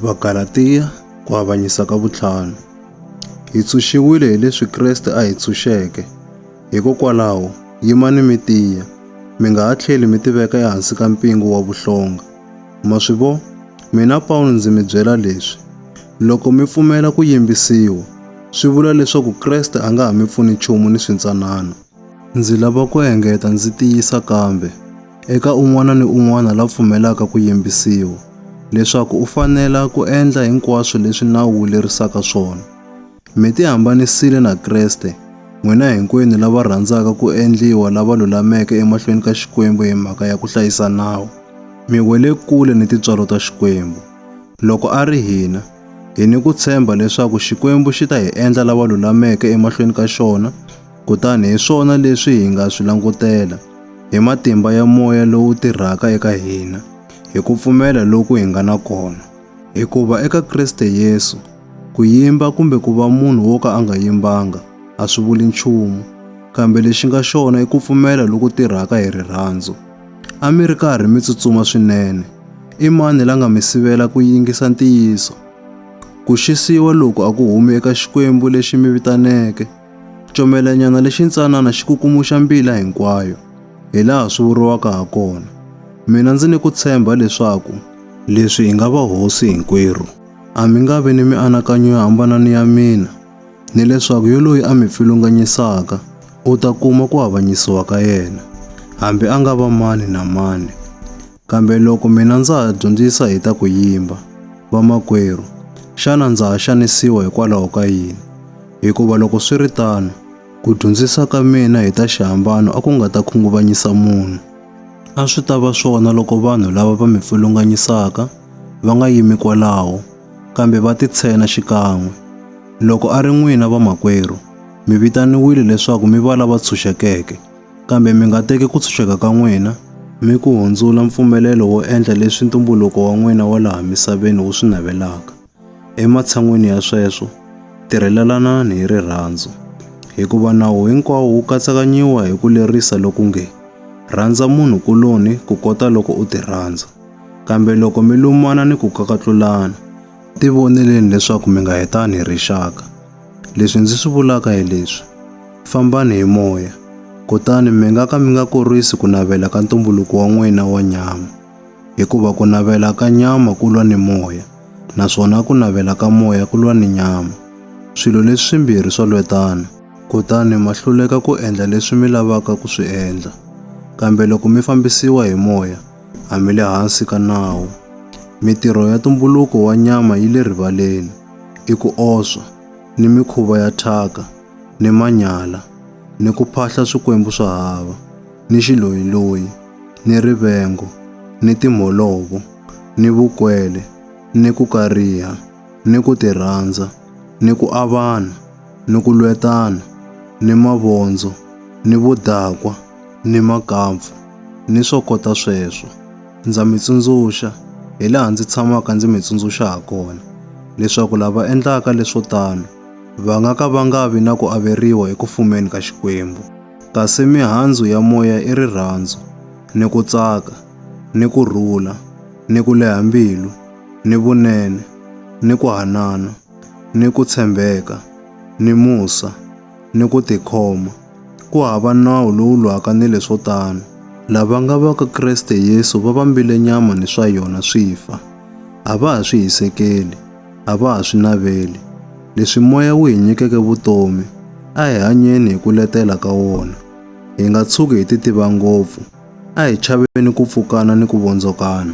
Vagalatiya ku avanyisa ka vutlhanu. Hi tshunxiwile hi leswi Kreste a hi tshunxeke. Hikokwalaho, yimani mi tiya, mi nga ha tlheli mi tiveka ehansi ka mpingu wa vuhlonga. Ma swi vo? Mina Pawulo ndzi mi byela leswi, loko mi pfumela ku yimbisiwa, swi vula leswaku Kreste a nga ha mi pfuni nchumu ni swintsanana. Ndzi lava ku engeta ndzi tiyisa kambe, eka un'wana ni un'wana la pfumelaka ku yimbisiwa, leswaku u fanela ku endla hinkwaswo leswi nawu wu lerisaka swona. Mi tihambanisile na Kreste, n'wina hinkwenu lava rhandzaka ku endliwa lava lulameke emahlweni ka Xikwembu hi mhaka ya ku hlayisa nawu, mi wele kule ni tintswalo ta Xikwembu. Loko a ri hina, hi ni ku tshemba leswaku Xikwembu xi ta hi endla lava lulameke emahlweni ka xona, Kutani hi swona leswi hi nga swi langutela, hi matimba ya moya lowu tirhaka eka hina, hi ku pfumela loku hi nga na kona. Hikuva eka Kriste Yesu, ku yimba kumbe ku va munhu wo ka a nga yimbanga a swi vuli nchumu, kambe lexi nga xona i ku pfumela loku tirhaka hi rirhandzu. A mi ri karhi mi tsutsuma swinene. I mani la nga mi sivela ku yingisa ntiyiso? Ku xisiwa loku a ku humi eka Xikwembu lexi mi vitaneke. Comelanyana lexi ntsanana xi kukumuxa mbila hinkwayo, hi laha swi vuriwaka ha kona. Mina ndzi ni ku tshemba leswaku leswi hi nga vahosi hinkwerhu. A mi nga vi ni mianakanyo yo hambana ni ya mina, ni leswaku yoloyi a mi pfilunganyisaka u ta kuma ku avanyisiwa ka yena, hambi a nga va mani na mani. Kambe loko mina ndza ha dyondzisa hi ta ku yimba, vamakwerhu, xana ndza ha xanisiwa hikwalaho ka yini? Hikuva loko swi ri tano, ku dyondzisa ka mina hi ta xihambano a ku nga ta khunguvanyisa munhu. A swi ta va swona loko vanhu lava va mi pfulunganyisaka va nga yimi kwalaho, kambe va titshena xikan'we. Loko a ri n'wina vamakwerhu, mi vitaniwile leswaku mi va lava tshunxekeke. Kambe mi nga teki ku tshunxeka ka n'wina mi ku hundzula mpfumelelo wo endla leswi ntumbuluko wa n'wina wa laha misaveni wu swi navelaka. Ematshan'weni ya sweswo, tirhelelanani hi rirhandzu, hikuva nawu hinkwawo wu katsakanyiwa hi ku lerisa loku nge, Rhandza munhu kuloni kukota loko u tirhandza. Kambe loko mi lumana ni ku kakatlulana, tivoneleni leswaku mi nga hetani hi rixaka. Leswi ndzi swi vulaka hi leswi, fambani hi moya, kutani mi nga ka mi nga kurisi ku navela ka ntumbuluko wa n'wina wa nyama, hikuva ku navela ka nyama ku lwa ni moya, naswona ku navela ka moya ku lwa ni nyama. Swilo leswi swimbirhi swa lwetana, kutani ma hluleka ku endla leswi mi lavaka ku swi endla. Kambe loko mi fambisiwa hi moya, a mi le hansi ka nawu. Mitirho ya ntumbuluko wa nyama yi le rivaleni. i ku oswa, ni mikhuva ya thyaka, ni manyala, ni ku phahla swikwembu swa hava, ni xiloyiloyi, ni rivengo, ni timholovo, ni vukwele, ni ku kariha, ni ku tirhandza, ni ku avana, ni ku lwetana, ni mavondzo, ni vudakwa, ni makampfu, ni swo kota sweswo. Ndza mi tsundzuxa, hi laha ndzi tshamaka ndzi mi tsundzuxa ha kona, leswaku lava endlaka leswo tano va nga ka va nga vi na ku averiwa eku fumeni ka Xikwembu. Kasi mihandzu ya moya i rirhandzu, ni ku tsaka, ni ku rhula, ni ku leha mbilu, ni vunene, ni ku hanana, ni ku tshembeka, ni musa, ni ku tikhoma. Ku hava nawu lowu lwaka ni leswo tano. Lava nga va ka Kreste Yesu va vambile nyama ni swa yona swi fa. A va ha swi hisekeli, a va ha swi naveli. Leswi Moya wu hi nyikeke vutomi, a hi hanyeni hi ku letela ka wona. Hi nga tshuki hi titiva ngopfu, a hi chaveni ku pfukana ni ku vondzokana.